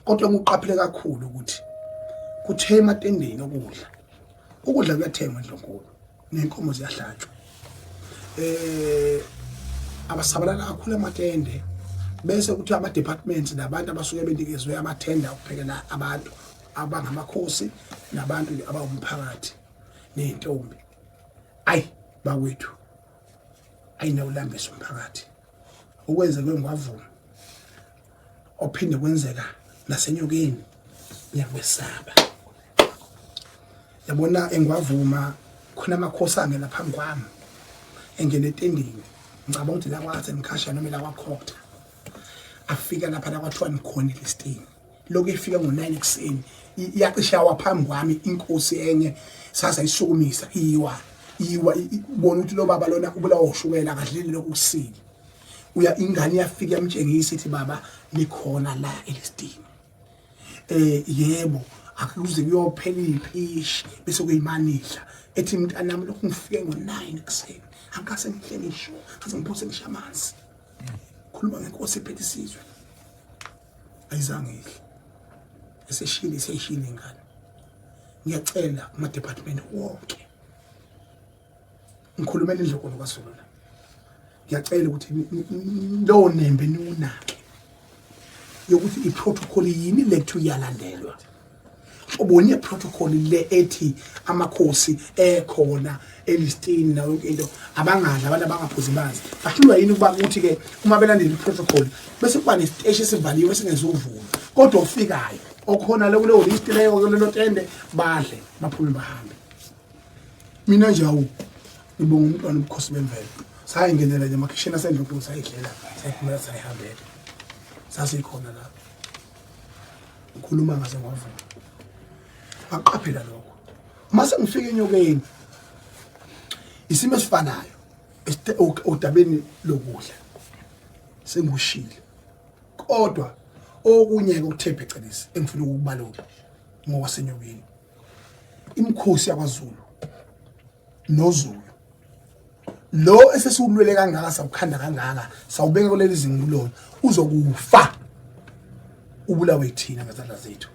kodwa ngiqaphele kakhulu ukuthi kuthe ematendeni okudla ukudla kuyathengwa endlonkulu nenkomo ziyahlatshwa eh abasabalala kakhulu amatende bese kuthi ama departments nabantu abasuke benikezwe amathenda ukuphekela abantu abangamakhosi nabantu abawumphakathi nezintombi ay bakwethu ayinawulambisa umphakathi okwenzeke ngwavuma ophinde kwenzeka nasenyokeni ngiyakwesaba yabona engwavuma khona amakhosi angena phambi kwami engena etendeni ngicabanga ukuthi lakwaze ngikhashana noma lakwakhotha afika lapha lakwathiwa nikhona elistini lokhu efika ngo-nine ekuseni iyacishe yawa phambi kwami inkosi enye saze ayisukumisa iyiwa iyiwa bona ukuthi lo baba lona ubulawa ushukela akadleli lokhu kusile uya ingane yafika yamtshengisa ithi baba likhona la elisdini eh yebo akuze kuyophela iphishi bese kuyimanidla ethi mntanami lokhu ngifike ngo9 ekuseni angase ngihle ngisho futhi ngiphose ngisha amanzi khuluma ngenkosi ephethe isizwe ayizange ihle eseshile iseshile ingane ngiyacela kuma department wonke ngikhulumela indlokolo kasolona ngiyacela ukuthi lowo nembe niwunake yokuthi i-protocol yini lethu iyalandelwa ubonye protocol le ethi amakhosi ekhona elistini nayo yonke into abangadla abantu abangaphuzi manzi bahlulwa yini ukuba kuthi ke uma belandela i-protocol bese kuba nesiteshi esivaliwe esingezuvuma kodwa ofikayo okhona le kuleyo list leyo kulelo tende badle baphume bahambe mina nje awu ngibonga umntwana ubukhosi bemvelo sayingenela nje amakhishini asendlokulu sayidlela sayiphumela sayihambela sasikhona la ngikhuluma ngaze ngwavuma ngaqaphela lokho uma sengifika enyokeni isimo esifanayo odabeni lokudla sengikushile kodwa okunye-ke okuthe phecelezi engifuna ukukubalula ngokwasenyokeni imkhosi yakwaZulu noZulu lo esesiwulwele kangaka sawukhanda kangaka sawubeka kuleli zingulo uzokufa ubulawe ithina ngezandla zethu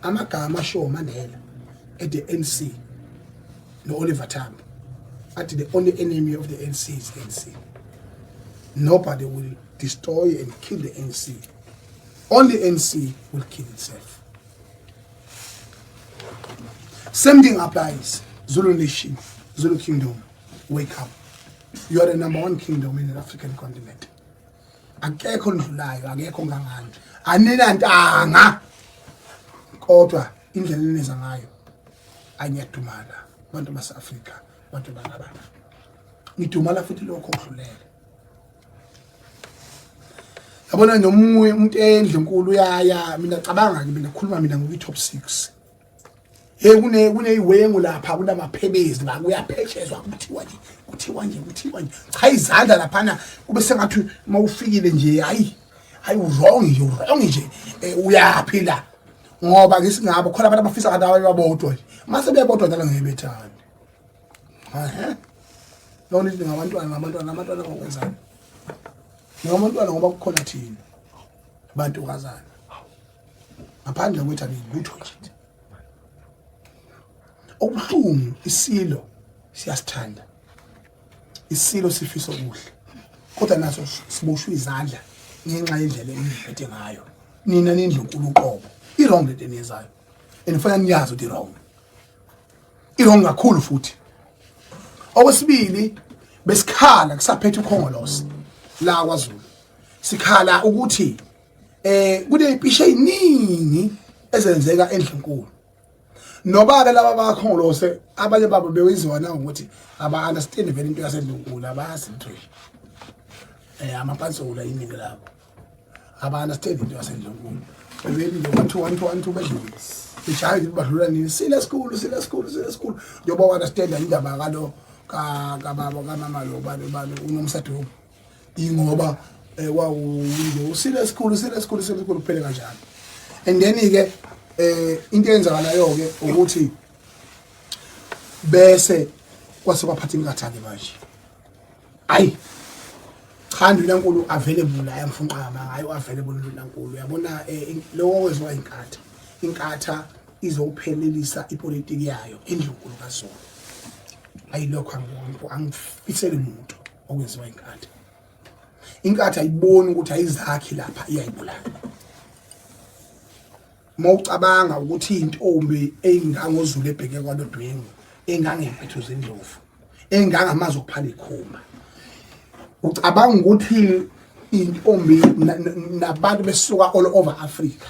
amagama ashiwo Mandela at the NC no Oliver Tambo athi the only enemy of the NC is NC nobody will destroy and kill the NC only NC will kill itself Same thing applies. Zulu Nation, Zulu Kingdom, wake up. You are the number one kingdom in the African continent. Akekho ndlulayo, akekho ngangani. Anina ntanga. Kodwa indlela eneza ngayo anyadumala abantu base-Afrika, abantu balabana. Ngidumala futhi lokho okudlulele. yabona nomunye umuntu endle nkulu uyaya mina cabanga ke mina khuluma mina ngokuyi top 6 hey kune kuneyiwengu lapha kunamaphebezi la kuyaphetshezwa kuthiwa nje kuthiwa nje kuthiwa nje cha izandla lapha na kube sengathi mawufikile nje hayi hayi wrong nje wrong nje eh, uyaphi la ngoba ngisingabo khona abantu abafisa kanti abanye babodwa nje mase bebodwa njalo ngeke bethande Yona into ngabantwana ngabantwana abantwana ngokwenzani? Ngabantwana ngoba kukhona thina bantu kazana. Ngaphandle kwethu angilutho nje. Okubuhlungu isilo siyasithanda. Isilo sifisa okuhle. Kodwa naso siboshwa izandla ngenxa yendlela eniphethe ngayo. Nina nindlunkulu uqobo. I wrong lento eniyenzayo. Enifanele niyazi ukuthi wrong. irongi kakhulu futhi okwesibili besikhala kusaphethe ukhongolose la kwaZulu sikhala ukuthi eh kunezipishe eziningi ezenzeka endlunkulu noba ke laba bakhongolose abanye babo bewenziwa na ukuthi aba understand vele into yasedlunkulu abazi into eh amapansula iningi labo abana sithembe into yasendlunkulu bebeli nje bathiwa one to one two bedlule ijahe nje badlula nini sile sikhulu sile sikhulu sile sikhulu njengoba wana stenda indaba kalo kababa kamama lo bani bani unomsadoko ingoba eh, wawunje usile esikhulu sile esikhulu sile esikhulu kuphele kanjalo and then ke eh into eyenzakalayo ke ukuthi bese kwase kwaphatha inkathane manje ayi cha ndlunankulu available ayamfunqama ngayo available ndlunankulu uyabona eh, lowo wezwa inkatha inkatha izophelelisa ipolitiki yayo endlunkulu kazona ayilokho angibonko angifisele muntu okwenziwa inkatha inkatha ayiboni ukuthi ayizakhi lapha iyayibulala uma ucabanga ukuthi intombi eyingangozulu ebheke kwalodwingu engangempethu zindlovu engangamazi okuphala ikhuma ucabanga ukuthi intombi nabantu besuka all over Africa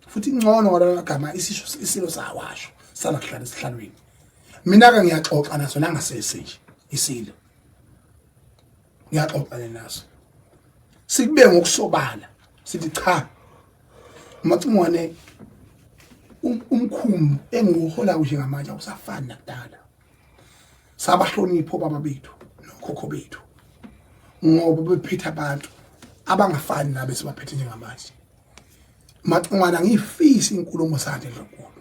futhi ingcono ngalagama isisho isilo sawasho sala kuhlala esihlalweni mina ke ngiyaxoxa naso nangasese nje isilo ngiyaxoxana naso sikube ngokusobala sithi cha macingwane um-, umkhumbu engiwuhola kuhle ngamanje awusafani nakudala sabahlonipho baba bethu nokhokho bethu ngoba bephethe abantu abangafani nabe sibaphethe njengamanje macingwana ngiyifisa inkulumo sakhe ndlonkulu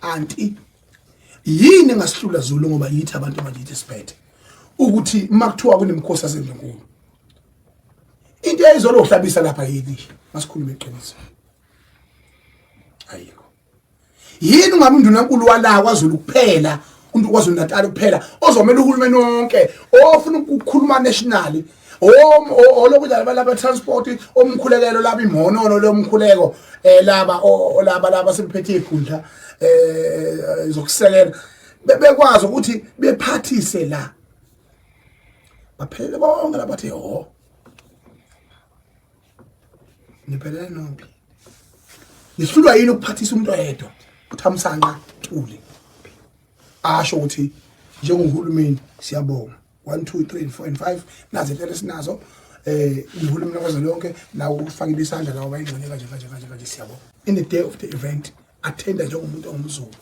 kanti yini engasihlula Zulu ngoba yithi abantu abakithi siphethe ukuthi makuthiwa kunemkhosi yaseNdlunkulu into eyizolo uhlabisa lapha yini masikhulume iqiniso ayikho yini ungabe undunankulu wala kwaZulu kuphela umuntu kwaZulu Natal kuphela ozomela uhulumeni wonke ofuna ukukhuluma nationally olokudlala balaba transport omkhulekelo laba imhonono lomkhuleko eh laba olaba laba sebephethe ikhundla eh zokusekela bebekwazi ukuthi bephathise la baphelele bonke labathi ho niphelele nonke nihlulwa yini ukuphathisa umuntu oyedwa uthamsanqa thule asho ukuthi njengohulumeni siyabonga 1 2 3 and 4 and 5 nazi impela esinazo eh uhulumeni kwaze lonke nawo ukufakile isandla lawo bayingxenye kanje kanje kanje kanje siyabo in the day of the event attenda njengomuntu ongumzulu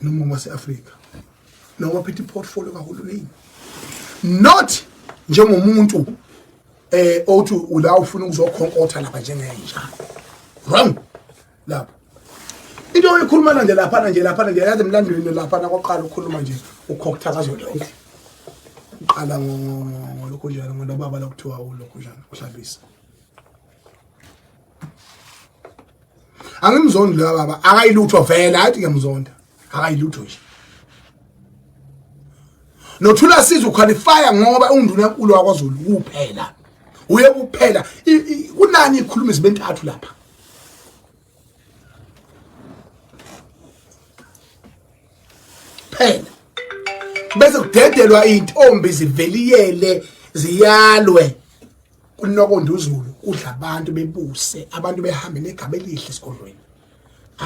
noma wase-afrika noma ophethe iportfolio kahulumeni not njengomuntu eh othi ula ufuna ukuzokhonkotha lapha njengenja wrong lapho into oyikhulumana nje laphana nje laphana nje yazi emlandweni laphana kwaqala ukukhuluma nje ukhoktha kazodonke uqala ngolokhu njalo ngonobaba lokuthiwa ulokhu njalo uhlabisa angimzondi loya baba akayilutho vele athi ngiyamzonda akayilutho nje nothula siza uqualifya ngoba unginduna enkulu wakwazulu kuphela uye kuphela kunani ikhuluma izibentathu lapha phela bese kudedelwa intombi ziveliyele ziyalwe kunokonda uzulu kudla abantu bebuse abantu behambe negaba elihle esigodlweni